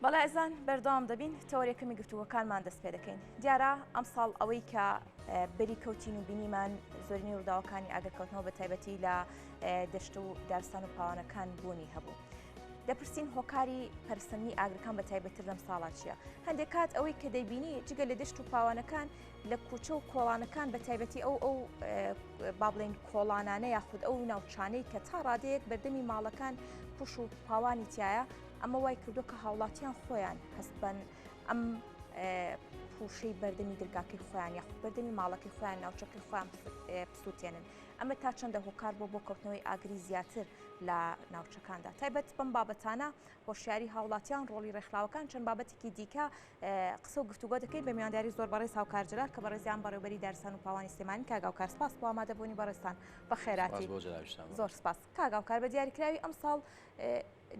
بەڵێ ئەزان بەردەوام دەبین تەوەرە کەمی گفتووەکانمان دەست پێ دەکەین دیارە ئەم ساڵ ئەوەی کە بەری کەوتین و بینیمان زۆرینی ڕووداوەکانی ئاگرکەوتنەوە بە تایبەتی لە دەشت و دارستان و پاوانەکان بوونی هەبوو. دەپرسین هۆکاری پرسننی ئاگرەکان بە تایبەتتر لەم ساڵا چییە هەندێک کات ئەوەی کە دەیبینی جگە لە دەشت و پاوانەکان لە کوچە و کۆڵانەکان بە تایبەتی ئەو ئەو بابلین کۆڵانانە یاخود ئەو ناوچانەی کە تا ڕادەیەک بەردەمی ماڵەکان پوش و پاوانی تایە ئەمە وای کردووە کە هاوڵاتیان خۆیان هەست بەن ئەم پوشەی بەردەمی درگاکەی خۆیان یاخود بەردەمی ماڵەکەی خۆیان ناوچەکەی خۆیان بسووتێنن ئەمە تا چەندە هۆکار بۆ بۆ کەوتنەوەی ئاگری زیاتر لە ناوچەکاندا تایبەت بەم بابەتانە هۆشیاری هاوڵاتیان ڕۆڵی ڕێکخراوەکان چەند بابەتێکی دیکە قسە و گفتوگۆ دەکەین بە میانداری زۆر بەڕێز هاوکار جلال کە بەڕێزیان بەڕێبەری دارسان و پاوانی سلێمانی کاگاوکار سپاس بۆ ئامادەبوونی بەڕێستان بە خێراتی زۆر سپاس کاگاوکار بە دیاریکراوی ئەمساڵ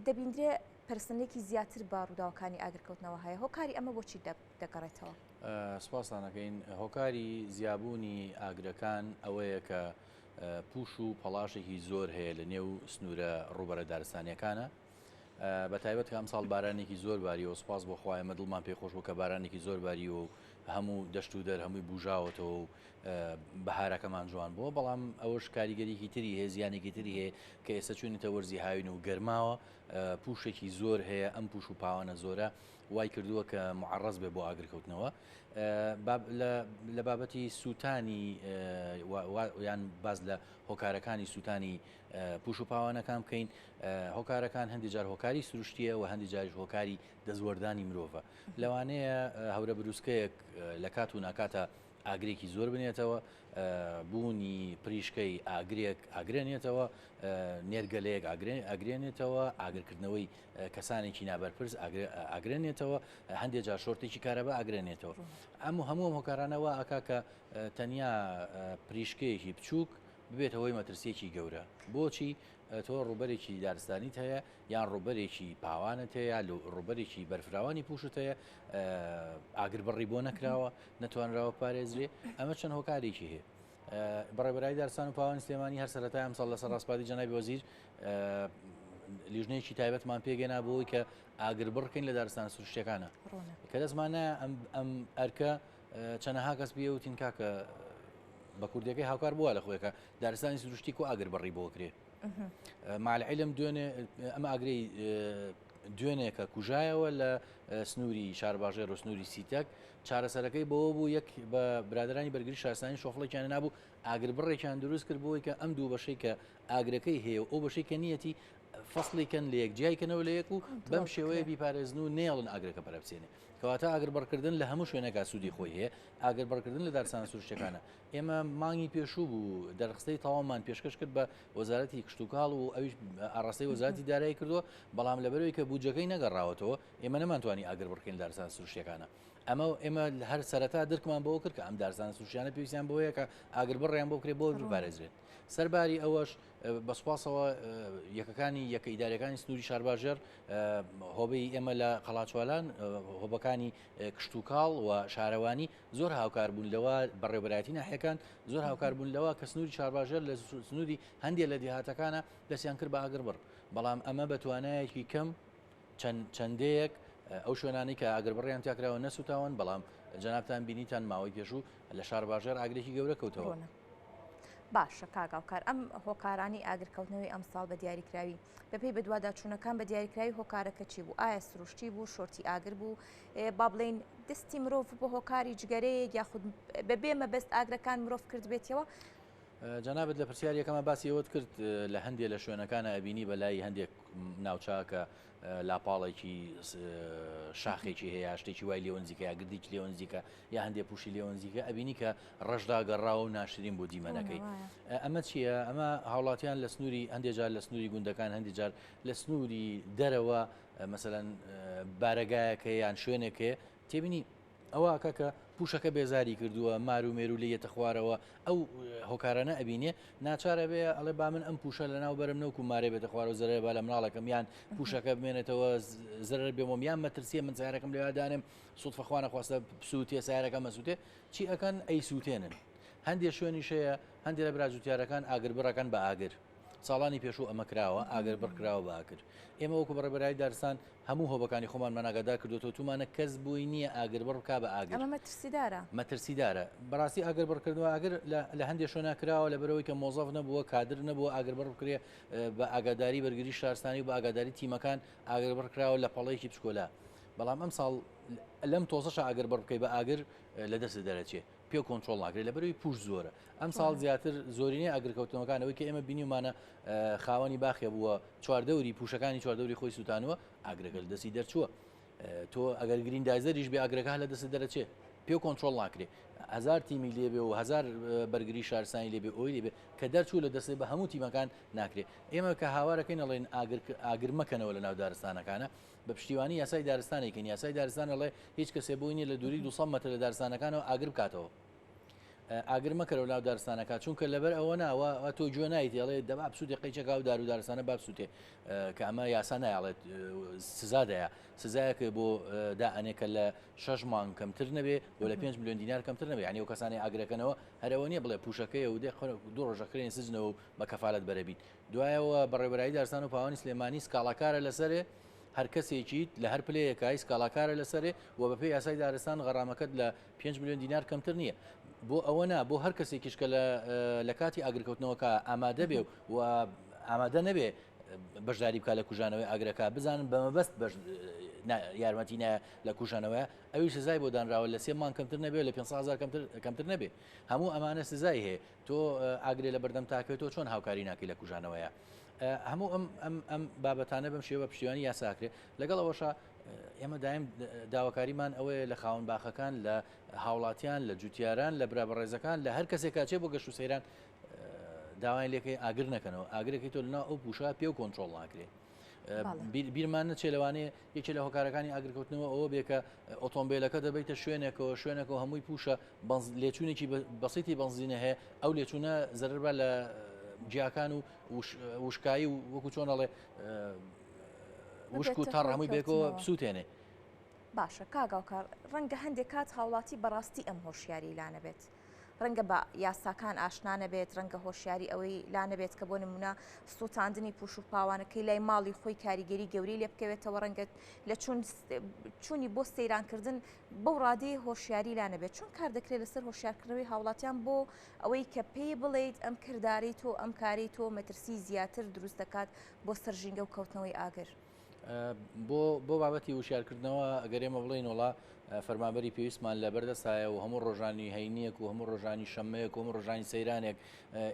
دەبیندرێ پەرستنلێکی زیاتر بە ڕووداوەکانی ئاگرکەوتنەوە هەیە، هۆکاری ئەمە بۆ چی دەگەڕێتەوە؟ سپاستان ئەکەین، هۆکاری زیابوونی ئاگرەکان ئەوەیە کە پووش و پەڵاشێکی زۆر هەیە لە نێو سنوورە ڕووبەرە دارستانیەکانە، بە تایبەت کە ئەمساڵ بارانێکی زۆر باریەوە، سپاس بۆ خوا ئێمە دڵمان پێی خۆش بوو کە بارانێکی زۆر باریەوە و هەموو دەشت و دەر هەمووی بووژاوەتەوە و بەهارەکەمان جوان بووە بەڵام ئەوەش کاریگەریکی تری هەیە زیانێکی تری هەیە کە ئێستا چوینەتە وەرزی هاوین و گەرماوە پوشێکی زۆر هەیە ئەم پوش و پاوانە زۆرە وای کردووە کە معڕز بێ بۆ ئاگرکەوتنەوە لە بابەتی سووتانی یان باز لە هۆکارەکانی سووتانی پوش و پاوانەکان بکەین هۆکارەکان هەندی جار هۆکاری سروشتیە و هەندی جاریش هۆکاری دەستوەردانی مرۆڤە لەوانەیە هەورە بروسکەیەک لە کات و ناکاتە ئاگرێکی زۆر بنێتەوە، بوونی پریشکەی ئاگرێک ئاگرێنێتەوە، نێرگەلەیەک ئاگرێنێتەوە، ئاگرکردنەوەی کەسانێکی نابەرپرس ئاگرێنێتەوە، هەندێک جار شۆرتێکی کارەبا ئاگرێنێتەوە. ئەم و هەموو ئەم هۆکارانەوە ئاکا کە تەنیا پریشکەیەکی بچووک ببێتە هۆی مەترسیەکی گەورە بۆچی تۆ ڕوبەرێکی دارستانیت هەیە یان ڕوبەرێکی پاوانت هەیە ڕوبەرێکی بەرفراوانی پوشت هەیە ئاگر بڕی بۆ نەکراوە نەتوانراوە بپارێزرێ ئەمە چەند هۆکارێکی هەیە بەڕێبەرای دارستان و پاوان سلێمانی هەر سەرەتای ئەمساڵ لەسەر ڕاستپاتی جەنابی وەزیر لیژنەیەکی تایبەتمان پێگەنا بۆی کە ئاگر بڕکەین لە دارستان سروشتەکانە کە دەستمانە ئەم ئەرکە چەنەها کەس بێ وتین کاکە بە کوردەکەی هاوکار بووە لە خۆێکە دارستانی سروشتی و ئاگر بڕی بۆکرێ مالعلم دوێنێ ئەم ئاگری دوێنێکە کوژایەوە لە سنووری شارباژێر و سنووری سیتەک چارەسەرەکەی بەوە بوو یەک بە برادرانی بەرگری شارستانی شۆفڵێکیان نابوو ئاگر بڕێکیان دروست کرد بۆی کە ئەم دوو بەشەی کە ئاگرەکەی هەیە و ئەو بەشەی کە نیەتی فەصلی کەن لە یەک جیای کەنەوە لە یەک و بەم شێوەیە بیپارێزن و نێڵن ئاگرەکە پەرەبچێنێ کەواتە ئاگر بڕکردن لە هەموو شوێنەکە سوودی خۆی هەیە ئاگر بڕکردن لە دارسان سروشتەکانە ئێمە مانگی پێشوو بوو دەرخستەی تەواومان پێشکەش کرد بە وەزارەتی کشتوکاڵ و ئەویش ئاڕاستەی وەزارەتی دارایی کردووە بەڵام لەبەرەوەی کە بودجەکەی نەگەڕاوەتەوە ئێمە نەمانتوانی ئاگر بڕکەین دارستان سروشتەکانە ئەمە ئێمە هەر سەرەتا درکمان بەوە کرد کە ئەم دارستان سوشیانە پێویستیان بۆیە کە ئاگر بڕیان بۆ کرێ بۆ بپارێزرێت سەرباری ئەوەش بەسپاسەوە یەکەکانی یەکە ئیدارەکانی سنووری شارباژێر هۆبەی ئێمە لە قەڵاچوالان هۆبەکانی کشتوکاڵ و شارەوانی زۆر هاوکار بوون لەوە بەڕێوبەرایەتی ناحیەکان زۆر هاوکار بوون لەوە کە سنووری شارباژێر لە سنووری هەندێک لە دیهاتەکانە دەستیان کرد بە ئاگربڕ بەڵام ئەمە بە توانایەکی کەم چەندەیەک ئەو شوێنانی کە ئاگر بڕیان تاکراوە نەسوتاون بەڵام جەنابان بینیتان ماوەی پێشوو لە شار باژێر ئاگرێکی گەورە کەوتەوە. باشە کاگاوکار ئەم هۆکارانی ئاگرکەوتنەوەی ئەم ساڵ بە دیاریکراوی بەپی بەدواداچوونەکان بە دیاریکراوی هۆکارەکە چی بوو ئایا سروشتی بوو شۆرتی ئاگر بوو با بڵێین دەستی مرۆڤ بۆ هۆکاری جگەرەیەک یاخود بەبێ مەبەست ئاگرەکان مرۆڤ کردبێتەوە جەنابەت لە پرسیار یەکەمە باسی ئەوت کرد لە هەندێک لە شوێنەکانە ئەبینی بەلای هەندێک ناوچاکە لاپاڵێکی شاخێکی هەیە شتێکی وای لێونزیکە گردیکی لێونزیکە یا هەندێ پوشی لێونزیکە ئەبینی کە ڕژدا گەڕاوە و ناشرین بۆ دیمەنەکەی ئەمە چییە ئەمە هاوڵاتیان لە سنووری هەندێجار لە سنووری گوندەکان هەندێجار لە سنووری دەرەوە مەسەلەن بارەگایەک هەیە یان شوێنێک هەیە تێبینی ئەوە کاکە پوشەکە بێزاری کردووە مار و مێرو لە یەتە خوارەوە ئەو هۆکارانە ئەبینێ ناچارە بێ ئەڵێ با من ئەم پوشە لە ناو بەرم نەوکو مارێ بێتە خوارە و زەرە با لە مناڵەکەم یان پوشەکە بمێنێتەوە زەرەر بێمۆم یان مەترسیە من سارەکەم لەوادانم سوودفەخواانە خواستە سووتێ سارەکە مەسووتێ چی ئەەکەن ئەی سووتێنن هەندێک شوێنیشەیە هەندێک لە براجوتیارەکان ئاگر بڕەکەن بە ئاگر ساڵانی پێشوو ئەمە کراوە، ئاگر بڕ کراوە بە ئاگر. ئێمە وەکو بەڕێبەرایی دارستان هەموو هۆبەکانی خۆمانمان ئاگادار کردووەتەوە، تومانە کەس بۆی نییە ئاگر بڕ بکا بە ئاگر. ئەمە مەترسیدارە. مەترسیدارە. بەڕاستی ئاگر بڕ کردن بە ئاگر لە هەندێ شوێنا کراوە لەبەرئەوەی کە مۆزەف نەبووە، کادر نەبووە ئاگر بڕ بکرێ، بە ئاگاداری بەرگری شارستانی و بە ئاگاداری تیمەکان ئاگر بڕ کراوە لە پەڵەیەکی بچکۆلا. بەڵام ئەمساڵ لەم تۆزەشا ئاگر بڕ بکەی بە ئاگر لە دەستت دەرەچێ. پێ کۆنترۆڵ ناکرێت لەبەروی پوش زۆرە ئەم ساڵ زیاتر زۆرینەی ئەگرکەوتنەوەکانەوەی کە ئێمە بینیمانە خاوەنی باخێ بووە چواردەوری پوشەکانی چواردەوری خۆی سووتانەوە ئاگرەکە لە دەستی دەرچووە تۆ ئەگەر گرین دایزەریش بێ ئاگرەکە لە دەست دەرەچێ پێ کۆنتترۆل ناکرێ هزار تیمی لێبێ و هزار بەرگری شارسانی لێبێ ئەوی لێبێ کە دەرچوو لە دەستی بە هەموو تیمەکان ناکرێت ئێمە کە هاوارەکەی نەڵێن ئاگر ئاگر مەکەنەوە لە ناو دارستانەکانە بە پشتیوانی یاسای دارستانێکین، یاسای دارستان ئەڵێ هیچ کەسێ بۆی نییە لە دووری 200 مەتر لە دارستانەکانەوە ئاگر بکاتەوە. ئاگر مەکەرەوە ناو دارستانەکە چونکە لەبەر ئەوە ناوە تۆ گوێ نایتێڵێ دەبا بسووتێ قەیچەکە و دار و دارستانە بابسووتێ کە ئەمە یاسا نایڵێت سزادەیە سزایەک بۆ دائەنێکە لە شەش مانگ کەمتر نەبێ بۆ لە پێنج میلیۆن دینار کەمتر نەبێ ینی و کەسانی ئاگرەکەنەوە هەرەوە نیە بڵێ پوشەکەی و دێ دو ڕۆژەکرێن سزنەوە بە کەفاالت بەرەبیت دوایەوە بەڕێوەرایی دارستان و پاوانی سلێمانی سکاڵاکارە لەسەرێ هەرکەسێکیت لە هەر پلەیەکای سکاڵاکارە لەسەرێ و بەپێ یاسای دارستان غەرامەکەت لە 5 میلیۆن دینار کەمتر نییە بۆ ئەوە نا بۆ هەر کەسێکیش کە لە کاتی ئاگرکەوتنەوەکە ئامادە بێ و ئامادە نەبێ بەشداری بکە لە کوژانەوەی ئاگرەکە بزانن بە مەبەست یارمەتی نایە لە کوژانەوەە ئەوی سزای بۆ دانراوە لە سێ مان کەمتر نەبێ لە 500 کەمتر کەمتر نەبێ هەموو ئەمانە سزای هەیە تۆ ئاگرێ لە بەردەم تاکەوێ تۆ چۆن هاوکاری ناکەی لە کوژانەوەیە هەموو ئەم ئەم ئەم بابەتانە بەم شێوە پشتیوانی یاساکرێت لەگەڵ ئەوەشە ئێمە دایم داواکاریمان ئەوەیە لە خاون باخەکان لە هاوڵاتیان لە جوتیاران لە برا بەڕێزەکان لە هەر کەسێکاچێ بۆ گەشت و سەیران داوایان لەکەی ئاگر نەکەنەوە ئاگرەکەی تۆ لەناو ئەو پوشە پێ و کۆنتترۆل ناکرێت بیرمان نەچێ لەوانێ یەکێ لە هۆکارەکانی ئاگرکەوتنەوە ئەوە بێکە ئۆتۆمبیلەکە دەبیتە شوێنێکەوە شوێنەکە هەمووی پوشە لێچوونێکی بەسیتی بنزینە هەیە ئەو لێچوونە زەربا لە جیاکان و وشکایی و وەکو چۆنەڵێ وشک و تا ڕامووی بێکەوە بسووتێنێ باشە کاگاوکار ڕەنگە هەندێک کات هاوڵاتی بەڕاستی ئەم هۆشیاری لانەبێت ڕەنگە بە یاساکان ئاشنا نەبێت ڕەنگە هۆشیاری ئەوەی لا نەبێت کە بۆ نمونە سووتاندنی پوش و پاوانەکەی لای ماڵی خۆی کاریگەری گەوری لێ بکەوێتەوە ڕەنگە لە چوونی بۆ سەیرانکردن بەو ڕادەی هۆشیاری لا نەبێت چون کار دەکرێت لەسەر هۆشیارکردنەوەی هاوڵاتیان بۆ ئەوەی کە پێی بڵیت ئەم کردداری تۆ ئەم کاری تۆ مەترسی زیاتر دروست دەکات بۆ سەرژینگە و کەوتنەوەی ئاگر. بۆ بۆ بابەتی وشارکردنەوە ئەگەر ئێمە بڵین وڵا فەرمابەری پێویستمان لە بەردەستایە و هەموو ڕۆژانی هەینیەک و هەموو ڕۆژانی شەمەیەک و ڕۆژانی سەیرانێک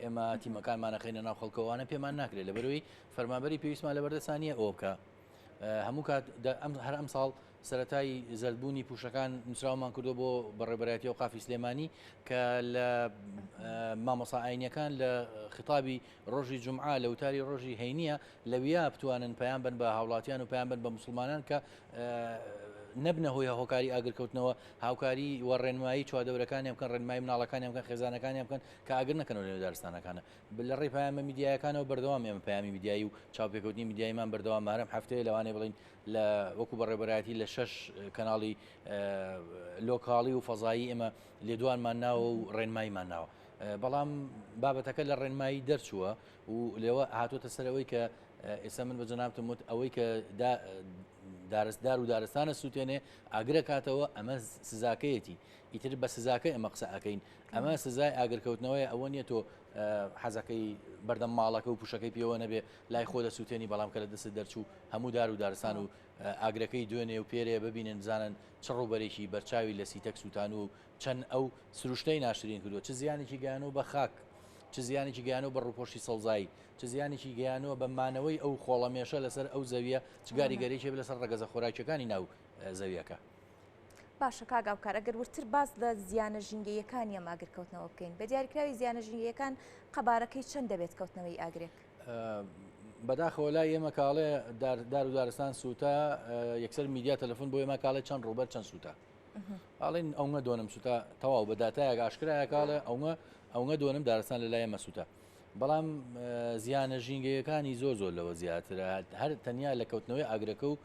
ئێمە تیمەکانمانەخینە ناو خەڵکەوانە پێمان ناکرێت لە بەروی فەرمابەری پێویستمان لە بەردەستانیە ئەوکە هەموو کات ئەم هەر ئەم ساڵ سەرەتای زەردبوونی پوشەکان نووسراومان کردو بۆ بەڕێبەرایەتی و قافی سلێمانی کە لە مامۆسا ئاینەکان لە خطابی ڕۆژی جمعا لە وتاری ڕۆژی هەینە لەویا بتوانن پەیان بن بە هاوڵاتیان و پەیان بن بە مسلمانان کە نەبنە هۆی هۆکاری ئاگرکەوتنەوە هاوکاری و ڕێنمایی چواردەورەکانی بکەن ڕێنمای مناڵەکانی بکەن خێزانەکانی بکەن کە ئاگر نەکەن لە دارستانەکانە بل لە ڕێی پامە میدیایەکانەوە بەردەوام ئێمە پامی میدیایی و چاپێکوتنی میدیایمان بەردەوام مارم هەفتەیە لەوانێ بڵین لە وەکو بەڕێبەرایەتی لە شەش کەناڵی لۆکاڵی و فەزایی ئێمە لێدوانمان ناوە و ڕێنماییمان ناوە بەڵام بابەتەکە لە ڕێنمایی دەرچووە و لێوە هاتوۆتە سەرەوەی کە ئێستا من بە جەنابتم وت ئەوەی کە دارستدار و دارستانە سووتێنێ ئاگرە کاتەوە ئەمە سزاکەیەتی ئیتر بە سزاکە ئەمە قسە ئەەکەین ئەمە سزای ئاگرکەوتنەوەی ئەوە نیە تۆ حەزەکەی بەردەم ماڵەکە و پوشەکەی پێوە نەبێ لای خۆ دەسوتێنی بەڵام کە لە دەستت دەرچوو هەموو دار و دارستان و ئاگرەکەی دوێنێ و پێرێ ببینن بزانن چ ڕووبەرێکی بەرچاوی لە سیتەک سووتانووە و چەند ئەو سروشتەی ناشرین کردووە چ زیانێکی گەیانەوە بە خاک چ زیانێکی گەیانەوە بە ڕووپۆشی سەوزایی چ زیانێکی گەیانەوە بە مانەوەی ئەو خۆڵەمێشە لەسەر ئەو زەویە چ گاریگەرێکی لەسەر ڕەگەزە خۆراکیەکانی ناو زەویەکە. باشە کاک ئاوکار ئەگەر وردتر باس لە زیانە ژینگەییەکانی ئەم ئاگرکەوتنەوە بکەین بە دیاریکراوی زیانە ژینگەیەکان قەبارەکەی چەند دەبێت کەوتنەوەی ئاگرێک؟ بەداخەوە لای ئێمە کاڵێ دار و دارستان سووتا یەکسەر میدیا تەلفۆن بۆ ئێمە کاڵێ چەند ڕوبەر چەند سووتا ئاڵین ئەوە دۆنم سووتا تەواو بە دااتایەک ئاشکرایە کاڵێ ئەوە ئەوە دۆنم دارستان لە لای مەسووتە بەڵام زیانە ژینگەیەکانی زۆر زۆر لەوە زیاترە هەر تەنیا لە کەوتنەوەی ئاگرەکە و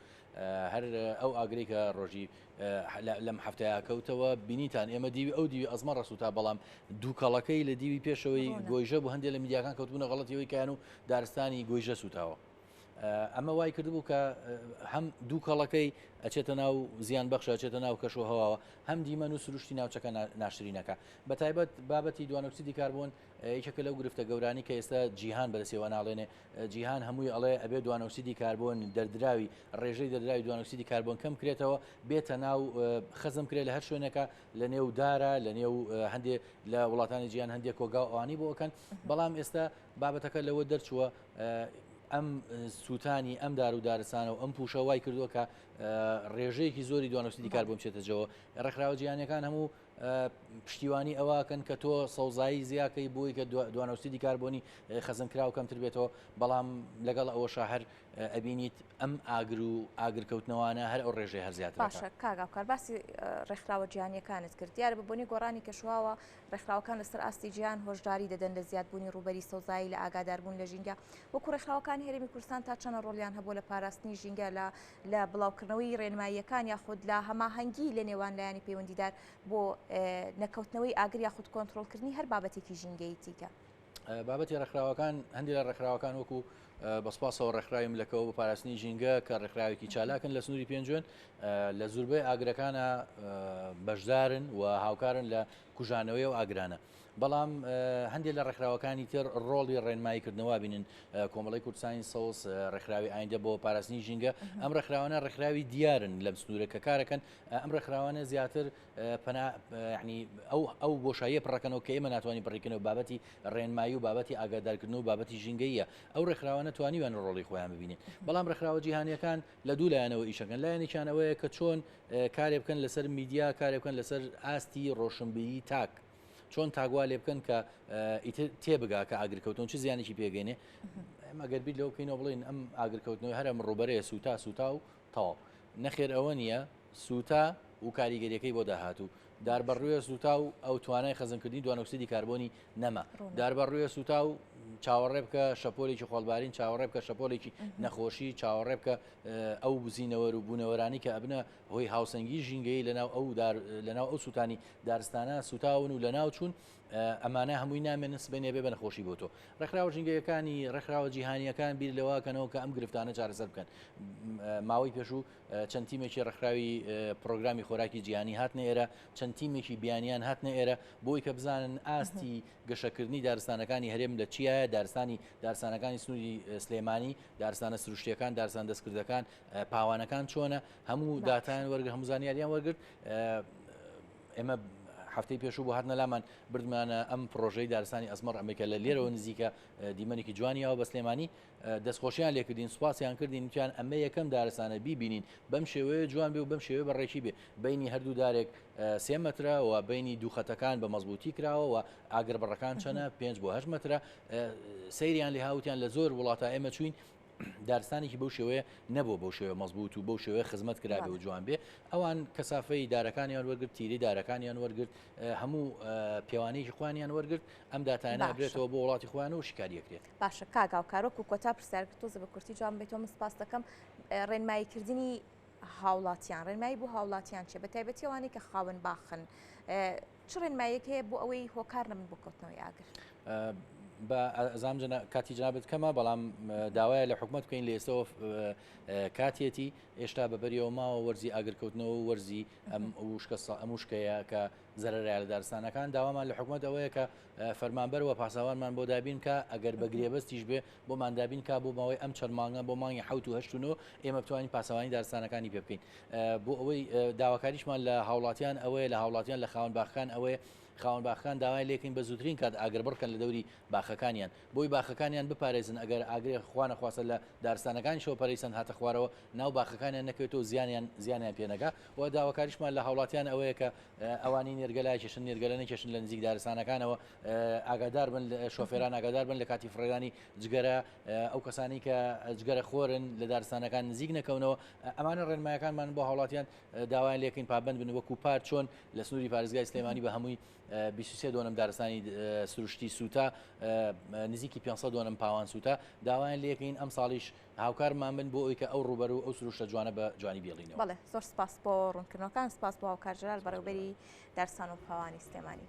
هەر ئەو ئاگرێکە ڕۆژی لەم هەفتەیە کەوتەوە بینیتان ئێمە دیوی ئەو دیوی ئەزمە ڕسووتا بەڵام دووکەڵەکەی لە دیوی پێشەوەی گۆیژە بۆ هەندێک لە میدیاکان کەوتبوونە غڵەتیەوەی کایان و دارستانی گۆیژە سووتاوە. ئەمە وای کردبوو کە هەم دوو کەڵەکەی ئەچێتە ناو زیان بەخشە چێتە ناو کەش و هەواوە هەم دیمەن و سروشتی ناوچەکە ناشرینەکە بە تایبەت بابەتی دوانۆکسیدی کاربوون یەکێکە لەو گرفتە گەورانی کە ئێستا جیهان بەرەسەوە ناڵێنێ جیهان هەمووی ئەڵێ ئەبێ دوانۆکسیدی کاربۆن دەردراوی ڕێژەی دەردراوی دوانۆکسیدی کاربۆن کەم کرێتەوە بێتە ناو خەزم کرێت لە هەر شوێنەکە لە نێو دارە لە نێو هەندێک لە وڵاتانی جیان هەندێک کۆگا و ئەوانی بۆکەن بەڵام ئێستا بابەتەکە لەوە دەرچووە ئەم سووتانی ئەم دار و دارستانە و ئەم پوشە وای کردووە کە ڕێژەیەکی زۆری دوانۆکسیدی کاربۆن بچێتەجەوە ڕێکخراوە جیانەکان هەموو پشتیوانی ئەوەکەن کە تۆ سەوزایی زیاکەی بۆی کە دوانەوسیدی کاربوونی خەزن کراو کەمتر بێتەوە بەڵام لەگەڵ ئەوە شاهر ئەبینیت ئەم ئاگر و ئاگرکەوتنەوانە هەر ئەو ڕێژەی هەرزیات باشە کاگاکار باسی ڕێکخراوە جیهانیەکانت کرد دیارە بە بۆنی گۆڕانی کەشواوە ڕێکخراوەکان لەسەر ئاستی جیان هۆشداری دەدەن لە زیادبوونی ڕوبەری سەوزایی لە ئاگاداربوون لە ژینگە وەکو ڕێکخراوەکان هەرمی کوردستان تا چەنە ڕۆلیان هەبوو لە پاراستنی ژینگە لە لە بڵاوکردنەوەی رێنماییەکان یاخود لە هەماهەنگی لە نێوان لایەنی پەیوەندیدار بۆ نەکەوتنەوەی ئاگر یاخود کۆنتڕۆڵکردنی هەر بابەتێکی ژینگەیی دیکە. بابەتی ڕێکخراوەکان هەندێک لە ڕێکخراوەکان وەکو بەسپاسەوە ڕێکخراوی ملەکەوە بە پاراستنی ژینگە کە ڕێکخراوێکی چالاکن لە سنووری پێنجوێن لە زوربەی ئاگرەکانە بەشدارن و هاوکارن لە کوژانەوەی و ئاگرانە. بەڵام هەندێک لە ڕێکخراوەکانی تر ڕۆڵی ڕێنمایی کردنەوە بینن کۆمەڵی کوردستانی سەوز ڕێکخراوی ئایندە بۆ پاراستنی ژینگە ئەم ڕێکخراوانە ڕێکخراوی دیارن لەم سنوورە کە کارەکەن ئەم ڕێکخراوانە زیاتر پەناهنی ئەو ئەو بۆشاییە پڕەکەنەوە کە ئێمە ناتوانانی بڕیکەنەوە بابەتی ڕێنمایی و بابەتی ئاگادارکردن و بابەتی ژینگەیە ئەو ڕێکخراوانە توانیوان ڕۆڵی خۆیان ببینن بەڵام ڕێکخراوە جیهانیەکان لە دوو لایەنەوە ئیشەکەن لایەنێکیان ئەوەیە کە چۆن کارێ بکەن لەسەر میدیا کارێ بکەن لەسەر ئاستی ڕۆشنبیری تاک چۆن تاگوا لێ بکەن کە ئیتر تێبگا کە ئاگرکەوتن چ زیانێکی پێگەێنێ ئەگەر بیت لەو کەینەوە بڵین ئەم ئاگرکەوتنەوەی هەرم ڕوبەرێ سوتا سوتا و تاو نەخێر ئەوە نییە سوتا و کاریگەریەکەی بۆ داهاتوو داربەڕوێ سووتاو ئەو توانای خەزنکردنی دوانۆکسیدی کاربۆنی نەما داربەڕوێ سووتاو چاوەڕێ بکە شەپۆلێکی خۆڵبارین چاوەڕێ بکە شەپۆلێکی نەخۆشی چاوەڕێ بکە ئەو بزینەوەر و بوونەوەرانی کە ئەبنە هۆی هاوسەنگی ژینگەی لەناو ئەو لەناو ئەو سووتانی دارستانە سوتاون و لەناو چوون ئەمانە هەمووی نامێن سبێنێ بێ بەنەخۆشی بۆ تۆ ڕێکخراوە ژینگەکانی ڕێکخراوە جیهانیەکان بیر لەواکەنەوە کە ئەم گرفتانە چارەسەر بکەن ماوەی پێشوو چەند تیمێکی ڕێکخراوی پڕۆگرامی خۆراکی جیهانی هاتنە ئێرە، چەند تیمێکی بیانیان هاتنە ئێرە، بۆی کە بزانن ئاستی گەشەکردنی دارستانەکانی هەرێم لە چیایە، دارستانی دارستانەکانی سنووری سلێمانی، دارستانە سروشتیەکان، دارستان دەستکردەکان، پاوانەکان چۆنە، هەموو داتایان وەرگرت، هەموو زانیاریان وەرگرت. ئێمە هەفتەی پێشوو بۆ هاتنە لامان بردمانە ئەم پرۆژەی دارستانی ئەزمەڕ ئەمریکا لە لێرەوە نزیکە دیمەنێکی جوانیەوە بە سلێمانی. دەستخۆشیان لێ کردین سوپاسیان کردین وتیان ئەمە یەکەم دارستانە بیبینین بەم شێوەیە جوان بێ و بەم شێوەیە بەڕێکی بێ بینی هەردوو دارێک سێ مەترە و بینی دوو خەتەکان بە مەزبوتی کراوە و ئاگر بڕەکان چەنە پێنج بۆ هەش مەترە سەیریان لە هاوتیان لە زۆر وڵاتە ئێمە چوین دارستانێکی بەو شێوەیە نەبوو بەو شێوە مەزبوط و بەو شێوەیە خزمەت کرابێ و جوان بێ ئەوان کەسافەی دارەکانیان وەرگرت تیری دارەکانیان وەرگرت هەموو پێوانەیەکی خوانیان وەرگرت ئەم داتانە بێتەوە بۆ وڵاتی خوان و شکاریەکرێت باشە کاک هاوکار وەکو کۆتا پرسیار کە تۆزە بە کورتی جوان بێتەوە من سپاس دەکەم ڕێنماییکردنی هاوڵاتیان ڕێنمایی بۆ هاوڵاتیان چێ بە تایبەتیوانەی کە خاون باخن چ ڕێنمایەک هەیە بۆ ئەوەی هۆکار نەبن بۆ کەوتنەوەی ئاگر بە ئەزام کاتی جنابەت کەمە بەڵام داوایە لە حکوومەت بکەین لە ئێستەوە کاتێتی ئێشتا بەبەریەوە ماوە وەرزی ئاگرکەوتنەوە وەرزی ئەم وشکە ئەم وشکەیە کە زەرەرە لە دارستانەکان داوامان لە حکوومەت ئەوەیە کە فەرمانبەر وە پاساوانمان بۆ دابین کا ئەگەر بە گرێبەستیش بێ بۆمان دابین کا بۆ ماوەی ئەم چەند مانگە بۆ مانگی حوت و هەشت و نۆ ئێمە بتوانین پاسەوانی دارستانەکانی پێ بکەین بۆ ئەوەی داواکاریشمان لە هاوڵاتیان ئەوەیە لە هاوڵاتیان لە خاون باخەکان ئەوەیە خاون باخەکان داوای لێکن بە زووترین کات ئاگر بڕکەن لە دەوری باخەکانیان بۆی باخەکانیان بپارێزن ئەگەر ئاگرێ خوانە خواستە لە دارستانەکانی شەوە پەرەیسەند هاتە خوارەوە ناو باخەکانیان نەکەوێتەوە زیانیان زیانیان پێنەگا و داواکاریشمان لە هاوڵاتیان ئەوەیە کە ئەوانەی نێرگەلە کێشن نێرگەلە نەکێشن لە نزیک دارستانەکانەوە ئاگادار بن شۆفێران ئاگادار بن لە کاتی فڕێدانی جگەرە ئەو کەسانی کە جگەرە خۆرن لە دارستانەکان نزیک نەکەونەوە ئەمانە ڕێنمایەکانمان بۆ هاوڵاتیان داوایان لەکەین پابند بن وەکو پار چۆن لە سنووری پارێزگای سلێمانی بە هەمووی 23 دۆنم دارستانی سروشتی سووتا نزیکی 500 دۆنم پاوان سووتا داوایان لەکەین ئەم ساڵیش هاوکارمان بن بۆ ئەوی کە ئەو ڕووبەرو ئەو سروشتە جوانە بە جوانی بیڵینەوە. بەڵێ زۆر سپاس بۆ ڕوونکردنەوەکان سپاس بۆ هاوکار جەلال بەڕێوبەری دارستان و پاوانی سلێمانی.